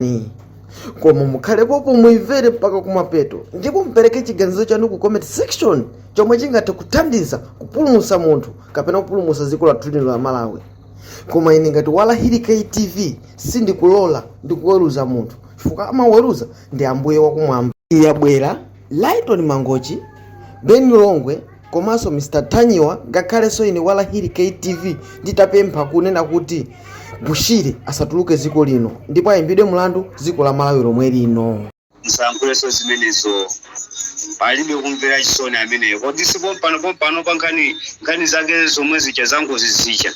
ni koma mukhale pompo muyimvere mpaka kumapeto ndipo mupereke chiganizo chanu ku comment section chomwe chingathe kuthandiza kupulumutsa munthu kapena kupulumutsa dziko lathu lino la malawi koma ine ngati walahiri ktv sindikulola ndikuweruza munthu chifukwa amaweruza ndi ambuye wakumwamba iye abwera Lyton Mangochi, Ben Longwe komanso Mr Ntanyiwa ngakhalenso ine Walahiri K TV nditapempha kunena kuti Bushiri asatuluke dziko lino ndipo ayimbidwe mlandu dziko la Malawi lomwe lino. musayankhulenso zimenezo palibe kumvera chisoni ameneyo kodi si pompano pompano pa nkhani nkhani zake zomwe zija zangozi zija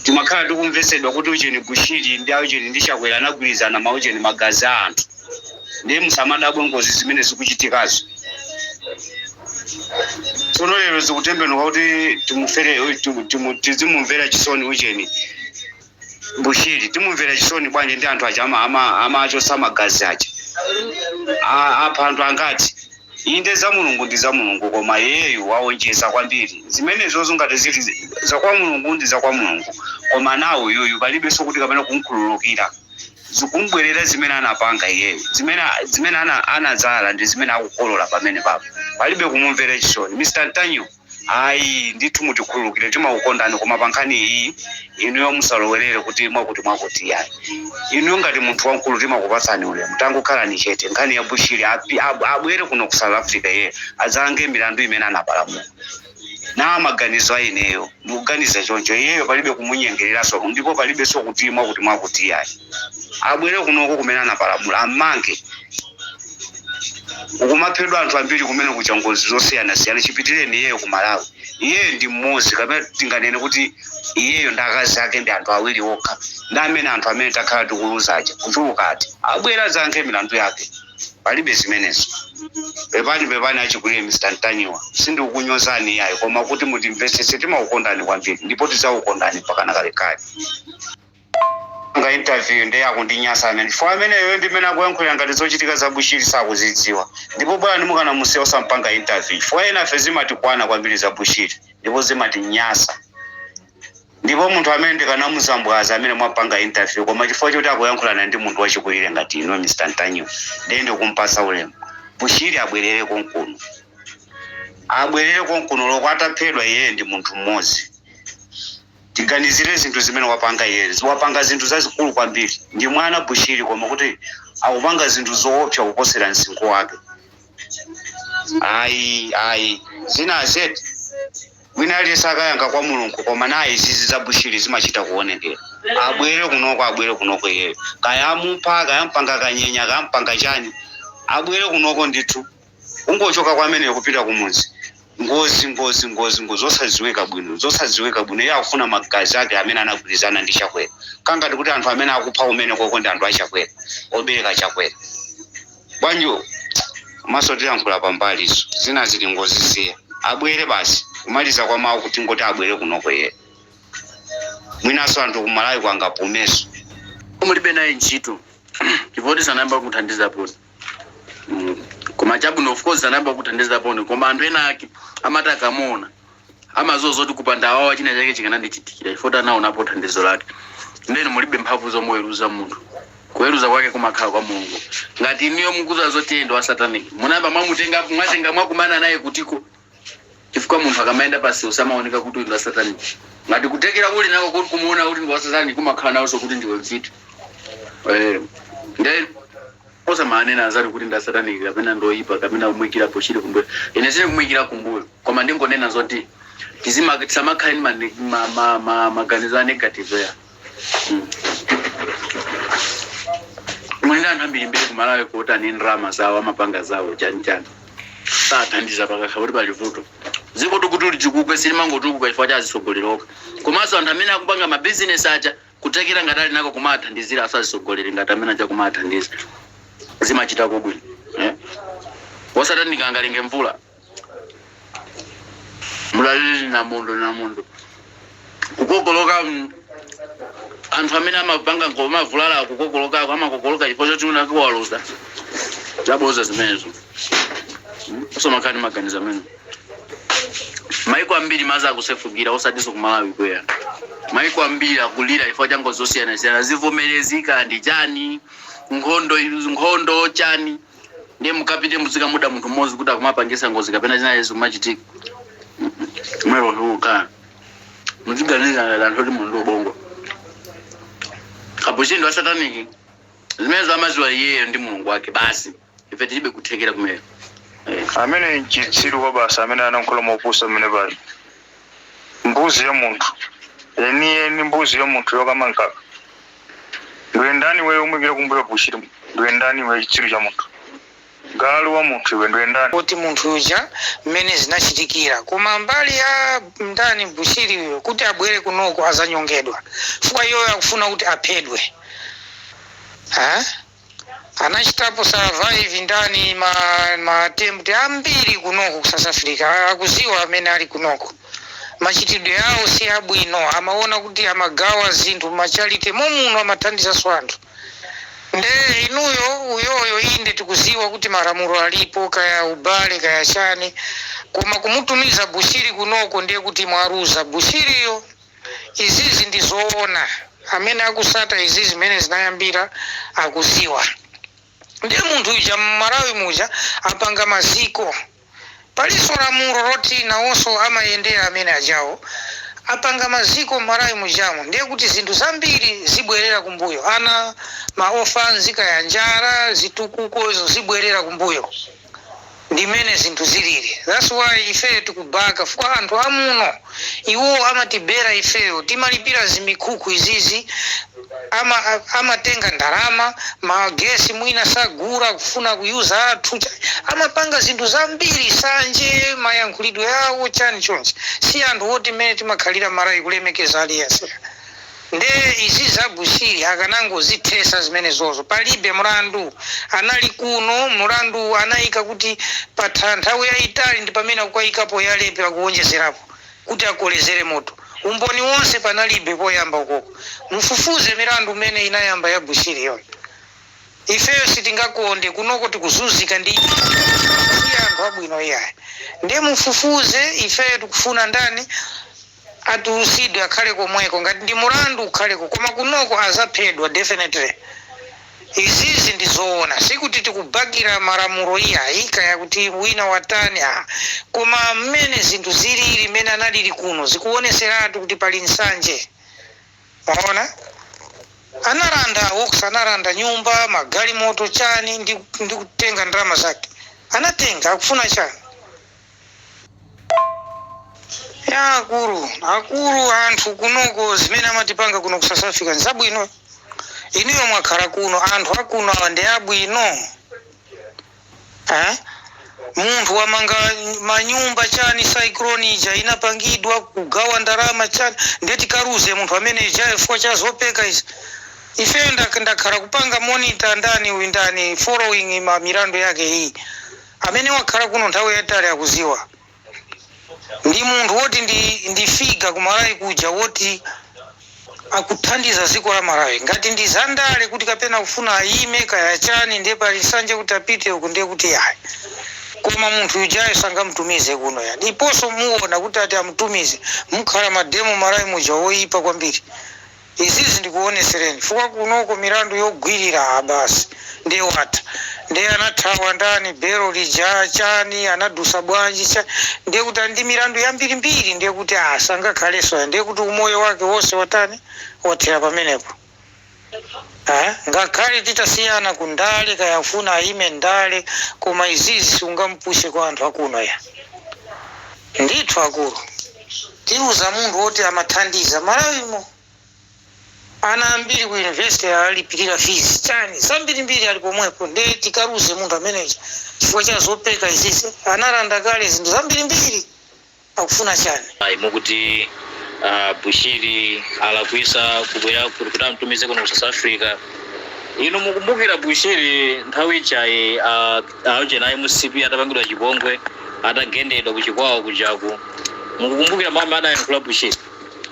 timakhala tikumvetsedwa kuti ujeni bushiri ndi aujeni ndi chakwera anagwirizana maujeni magazi a anthu ndiye musamadabwe ngozi zimene zikuchitikazo tsono lero zikutembenuka kuti timumvere timu- timu- tizimumvera chisoni ujeni bushiri timumvera chisoni bwanji ndi anthu aja ama- ama- amachotsa magazi aja A- apha anthu angati Inde za Mulungu ndi za Mulungu koma iyeyu waonjeza kwambiri zimenezozo ngati zili za kwa Mulungu ndi za kwa Mulungu koma now uyuyu palibenso kuti kapena kumkhululukira zikumbwerera zimene anapanga iyeyu zimene zimene ana anadzala ndi zimene akukolola pamenepapo palibe kumumvera chisoni Mr Ntanyiwa. ayi ndithu mutikhululukire timakukondani koma pa nkhani iyi inuyo musalowerere kuti mwakuti mwakuti yayi inuyo ngati munthu wamkulu timakupatsani ulemu tangokhalani chete nkhani ya bushiri api- ab- abwere kuno ku south africa iye adzayankhe milandu imene anapalamula na maganizo a ineyo ndikuganiza choncho iyeyo palibe kumunyengereranso ndipo palibenso kuti mwakuti mwakuti yayi abwere kunoko kumene anapalamula ammange kukumaphedwa anthu ambiri kumene kuja ngozi zosiyanasiyana chipitireni iyeyo ku malawi iyeyo ndi mmodzi kapena tinganene kuti iyeyo ndi akazi ake ndi anthu awiri okha ndi amene anthu amene takhala tikuluza aja kuchuluka ati abwere adzayankhe milandu yake palibe zimenezo pepani pepani achikulire mr ntanyiwa sindikukunyozani iyayi koma kuti mutimvetsetse timakukondani kwambiri ndipo tidzakukondani mpakana kalekale Kupanga interview ndiye akundinyasa amene chifukwa ameneyoyo ndi mmene akuyankhulira ngati zochitika za Bushiri sakuzidziwa ndipo bolani mukanamusiya osamupanga interview chifukwa enafe zimatikwana kwambiri za Bushiri ndipo zimatinyasa ndipo munthu amene ndikanamusambwadza amene mwapanga interview koma chifukwa choti akuyankhulana ndi munthu wachikulire ngati inuyo Mr Ntanyiwa ndiye ndikumpatsa ulemu Bushiri abwerere konkuno abwerere konkuno oloko ataphedwa iyeyo ndi munthu mmodzi. tiganizire zinthu zimene wapanga iyeyo wapanga zinthu zazikulu kwambiri ndi mwana Bushiri koma kuti akupanga zinthu zoopsa kuposera msinkhu wake ayi ayi zina zedi wina aliyense akayankha kwa mulungu koma naye izizi za Bushiri zimachita kuonekera abwere kunoko abwere kunoko iyeyo kaya amupha kaya ampanga kanyenya kaya ampanga chani abwere kunoko ndithu kungochoka kwa ameneyo kupita kumudzi ngozi ngozi ngozi ngozi zosadziwika bwino zosadziwika bwino iye akufuna magazi ake amene anagwirizana ndi Chakwera kangati kuti anthu amene akupha kumenekoko ndi anthu a Chakwera obereka Chakwera bwanjo komanso tilankhula pambalizo zina zili ngozi siya abwere basi kumaliza kwa mawu kuti ngoti abwere kunoko iye mwinanso anthu ku Malawi kwangapumenso mulibe naye ntchito chifukwa sanayamba kuthandiza poti Mm. koma chabwino of course anayamba kuthandiza poni koma anthu ena ake amati akamuona amadziwa zoti kupanda awawa china chake chikanandichitikira if anaonapo thandizo lake ndeno mulibe mphamvu zomuweruza munthu kuweruza kwake kumakhala kwa mulungu ngati iniyo mukudziwa zoti iye ndi wa satanic munayamba mwatenga mwakumana naye kutiko chifukwa munthu akamayenda pansewu samaoneka kuti uyu ndi wa satanic ngati kuthekera uli nako kuti kumuona kuti ndi wa satanic umakhala nawonso kuti ndiwe mfiti Eh, nde osamanena anzanu kuti ndi asatanic kapena ndi oyipa kapena kumuikira Bushiri kumbuyo ine sindikumuikira kumbuyo koma ndingonena zoti tizima- tisamakhale ndi mane- ma- ma- ma- maganizo a negative ya mwina anthu ambirimbiri ku Malawi kuti ali ndi ndalama zawo amapanga zawo chanichani sathandiza pakakhala kuti pali vuto dziko kuti litukuke silimangotukuka chifukwa cha azitsogoleri okha komanso anthu amene akupanga mabizinesi aja kuthekera ngati ali nako kumathandizira azitsogoleri ngati amene aja kumathandiza zimachitako bwino eh? osati ndikangalenge mvula mlalili namondo namondo kukokoloka mm, anthu amene amapanga ngoma avulale akukokolokako amakokoloka chifukwa choti unake waluza zaboza zimenezo Mm, osamakhala ndi maganizo amenewo maiko ambiri madzi akusefukira osatinso ku Malawi kwera maiko ambiri akulira chifukwa cha ngozi zosiyanasiyana zivomerezi kaya ndi chani nkhondo nkhondo chani ndiye mukapite muzikamuda munthu mmodzi kuti akumapangisa ngozi kapena china yesu kumachitika mwero ndiukana muziganiza anthu kuti munthu ubongo a Bushiri ndi wa sataniki zimenezo amadziwa iyeyo ndi mulungu wake basi ife tilibe kuthekera kumene amene nchitsiru kwabasi amene analankhula mopusa amene pali mbuzi ya munthu yeniyeni mbuzi ya munthu yokama mkaka Ndiwe ndani iweyo umuyikira kumbuyo Bushiri? Ndiwe ndani iweyo chitsiru cha munthu? Galu wa munthu iwe ndiwe ndani? kuti munthu uja mmene zinachitikira koma mbali ya ndani Bushiri uyu kuti abwere kunoko azanyongedwa chifukwa iyoyo akufuna kuti aphedwe ha? Anachitapo survive ndani ma ma attempt ambiri kunoko ku south africa akuziwa amene ali kunoko machitidwe awo si abwino amaona kuti amagawa zinthu mma charity momuno amathandizanso anthu nde inuyo uyoyo inde tikuziwa kuti malamulo alipo kaya ubale kaya chani koma kumutumiza bushiri kunoko ndiye kuti mwaruza bushiriyo izizi ndizoona amene akusata izizi mmene zinayambira akuziwa ndiye munthu uja mmalawi muja apanga maziko paliso lamulo loti nawonso amayendera amene ajawo apanga maziko mmalawi mujamo ndiye kuti zinthu zambiri zibwerera kumbuyo ana ma ofanzi kaya njara zitukuko izo zibwerera kumbuyo. ndimene zinthu zilili that's why ifeyo tikubaka fukwa anthu amuno iwo amatibera ifeyo timalipira zimikhukhu izizi amatenga ndalama magesi mwina sagura kufuna ku user athu chani amapanga zinthu zambiri sanje mayankhulidwe awo chani chonchi si anthu oti mmene timakhalira marawi kulemekeza aliyense Nde izi za Bushiri akanangozithesa zimene zozo palibe mulandu anali kuno mulandu uwu anaika kuti patha nthawi yaitali ndipamene akukaikapo ya rape akuonjezerapo kuti akolezere moto umboni wonse panalibe poyamba ukoko mufufuze milandu imene inayamba ya Bushiri yo ifeyo sitingakonde kunoko tikuzuzika ndi si anthu abwino iyayi nde mufufuze ifeyo tikufuna ndani Atulusidwe akhale komweko ngati ndi mulandu ukhaleko koma kunoko azaphedwa definitely izizi ndi zoona sikuti tikubakira malamulo iyayi kaya kuti wina watani aa koma mmene zinthu ziliri mmene analiri kuno zikuoneseratu kuti pali nsanje mwaona anaranda awox anaranda nyumba magalimoto chani ndi kutenga ndalama zake anatenga akufuna chani ya akulu akulu anthu kunoko zimene amatipanga kuno ku south africa nzabwino inuyo mwakhala kuno anthu akuno awa ndi abwino eh? munthu wamanga manyumba chani cyclone ija inapangidwa kugawa ndalama chani nde tikaluze munthu amene uja chifukwa cha zopeka izi ifeyo ndak- ndakhala kupanga monitor ndani uyu ndani following milandu yake iyi amene wakhala kuno nthawi yayitali akuziwa ndi munthu woti ndi figure ku Malawi kuja woti akuthandiza ziko la Malawi ngati ndi za ndale kuti kapena akufuna ayime kaya chani ndiye pali nsanje kuti apite uku ndiye kuti yayi koma munthu yujayo sangamutumize kuno ya ndiponso muwona kuti ati amutumize mukhala ma demo Malawi muja woyipa kwambiri Izizi ndikuonesereni chifukwa kunoko milandu yogwirira aa basi nde watha nde anathawa ndani belo lija chani anadusa bwanji chani ndekuti ali ndi milandu yambirimbiri ndekuti aa sangakhaleso ayi ndekuti umoyo wake wose watani wathera pamenepo aa ngakhale titasiyana ku ndale kaya afuna ayime ndale koma izizi siungamupuse kwa anthu akuno ya ndithu akulu Tiluza munthu oti amathandiza malawimo ana ambiri ku university alipilira fees chani zambirimbiri ali pomwepo nde tikaluze munthu ameneja chifukwa cha zopeka izizi analanda kale zinthu zambirimbiri akufuna chani. Ayi mukuti a Bushiri alakwisa kubwera kuno kuti amutumize kuno ku south Africa inu mukumbukira Bushiri nthawi ijayi a. Aujeni a mcp atapangidwa chipongwe atagendedwa ku Chikwawa kujaku mukukumbukira mau amene adayankhula Bushiri?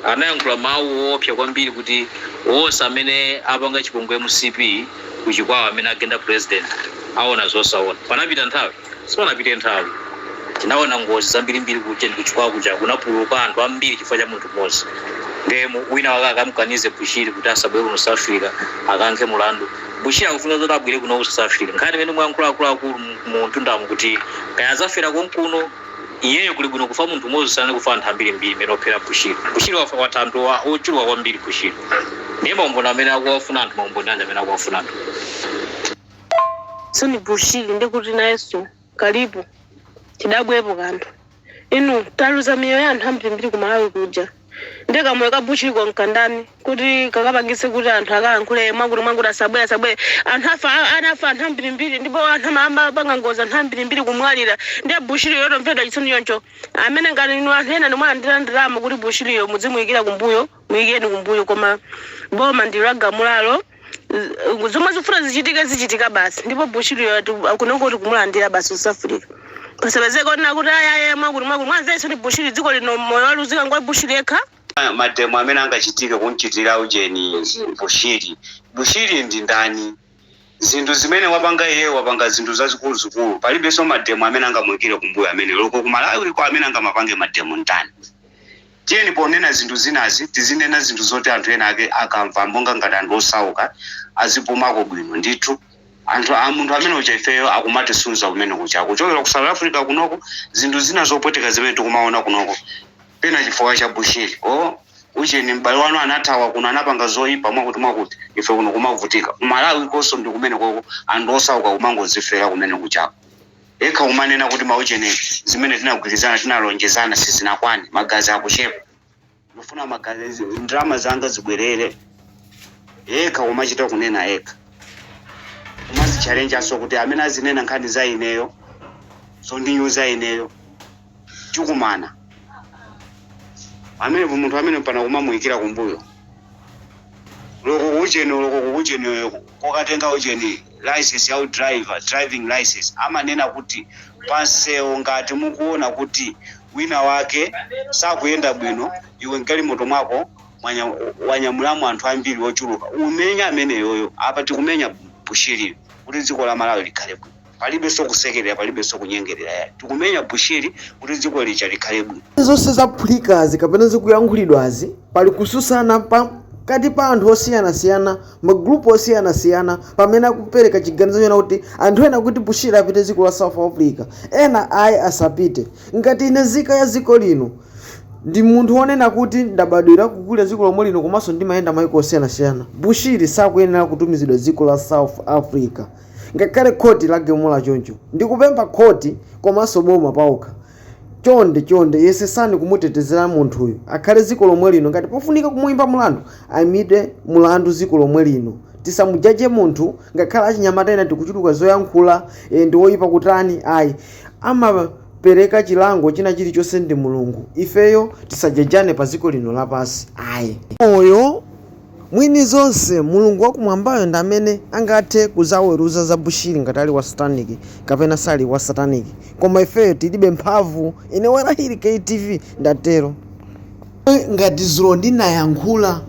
Anayankhula mau oopsa kwambiri kuti onse amene apanga chipongwe mcp ku Chikwawa amene agenda president aona zosaona. Panapita nthawi? Sipanapite nthawi. Tinaona ngozi zambirimbiri ku ujeni ku Chikwawa kujaku kunapululuka anthu ambiri chifukwa cha munthu mmodzi. Ndiye wina wake akamkanize Bushiri kuti asabwere kuno South Africa akayankhe mlandu? Bushiri akufuna zoti abwere kuno ku South Africa nkhani imene mwayankhula akuluakulu mu mtundamu kuti kaya azafera konkuno iyeyo kuli bwino kufa munthu umodzi kusiyana kufa anthu ambirimbiri amene ophera Bushiri Bushiri wafa watha anthu wa- ochuluka kwambiri Bushiri ndiye maumboni amene akuwafuna anthu maumboni anja amene akuwafuna anthu Tsono Bushiri ndikuti nayenso kalikonse tidabwepo kanthu inu taluza miyoyo ya anthu ambirimbiri ku malawi kuja nde kamoyo ka bushiriko nkandani kuti kakapangitse kuti anthu akalankhule mwakuti mwakuti asabwere asabwere anthu afa a- anafa anthu ambirimbiri ndipo anthu ama- amapanga ngozi anthu ambirimbiri kumwalira nde bushiri yo tomvera chisoni choncho amene ngati inu anthu ena nomwe alandira ndalama kuti bushiriyo mudzimuyikira kumbuyo muyikeni kumbuyo koma boma ndilo lagamulalo Z- zomwe zifuna zichitike zichitika basi ndipo bushiriyo kunoko kuti kumulandira basi ku South Africa pasapezeke onena kuti ayaye mwakuti mwakuti mwanzeru ndi bushiri dziko lino moyo waluzika ngwa bushiri yekha Ah, mademo amene angachitike kumchitira ujeni bushiri bushiri ndi ndani zinthu zimene wapanga iye wapanga zinthu zazikuluzikulu palibenso mademo amene angamwikire kumbuyo amene loko kumalawiko amene angamapange mademo ndani Tiyeni ponena zinthu zinazi tizinena zinthu zoti anthu ena ake akamva monga ngati anthu osauka azipumako bwino ndithu. Munthu amene uja ifeyo akumatisunza kumene kuja kuchokera ku South Africa kunoko zinthu zina zopweteka zimene tikumaona kunoko pena chifukwa cha Bushiri oh ujeni m'bale wanu anathawa kuno anapanga zoipa mwakuti mwakuti ife kuno kumavutika. Ku Malawi konko ndi kumenekoko anthu osauka kumangozifera kumene kujako. Yekha kumanena kuti maujeni zimene tinagwirizana tinalonjezana sizinakwane magazi akuchepa ndufuna magazi ndalama zanga zibwerere yekha kumachita kunena yekha kumazitchalenjanso kuti amene azinena nkhani za ineyo zondinyoza ineyo tikumana amenepo munthu amene pana kumamuyikira kumbuyo olo kuujeni olo ku kuujeni kokatenga ujeni license ya driver driving license amanena kuti pansewu ngati mukuona kuti wina wake sakuyenda bwino iwe mgalimoto mwako mwanya- wanyamulamo anthu ambiri ochuluka umenya ameneyoyo apa tikumenya bushiri kuti dziko la malawi likhale bwino Palibenso kusekelera palibenso kunyengelera yayi tikumenya Bushiri kuti dziko lija likhale bwino. Zonse zaphulikazi kapena zikuyankhulidwazi pali kususana pakati pa anthu osiyanasiyana magrupu osiyanasiyana pamene akupeleka chiganizo chonena kuti anthu ena akuti Bushiri apite dziko la South Africa ena ayi asapite ngati ine zika ya dziko lino ndi munthu onena kuti ndabadwira kukulira dziko lomwe lino komanso ndimayenda mayiko osiyanasiyana Bushiri sakuyenera kutumizidwa dziko la South Africa ngakhale khoti lagamula choncho ndikupempha khoti komanso boma paokha chonde chonde yesesani kumutetezera munthuyu akhale ziko lomwe lino ngati pofunika kumuimba mulandu aimidwe mulandu ziko lomwe lino tisamujaje munthu ngakhale achinyamata ena tikuchuluka zoyankhula e, ndi woyipa kutani ayi amapereka chilango china chilichonse ndi mulungu ifeyo tisajajane pa ziko lino lapansi ayi Mwini zonse, Mulungu wa kumwambayo ndi amene angathe kudzaweruza za Bushiri ngati ali wa satanic kapena sali wa satanic koma ifeyo tilibe mphamvu ine Warahiri KTV ndatero. Ngati dzulo ndinayankhula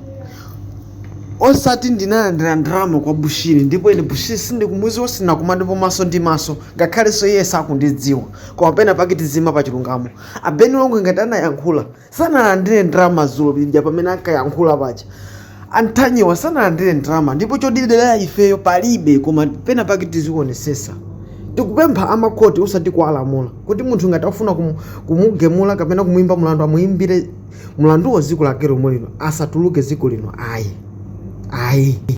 osati ndinalandira ndalama kwa Bushiri ndipo ine Bushiri sindikumudziwa sitinakumanepo maso ndi maso ngakhalenso iye sakundidziwa koma pena pake tiziyima pa chilungamo. A Ben Longwe ngati anayankhula. sanalandire ndalama dzulo lija pamene ankayankhula paja a Ntanyiwa sanalandire ndalama ndipo chodidera ifeyo palibe koma pena pake tizionesesa tikupempha amakhoti osati kuwalamula kuti munthu ngati afuna kumu- kumugemula kapena kumuyimba mulandu amuyimbire mulanduwo dziko lake lomwe lino asatuluke dziko lino ayi ayi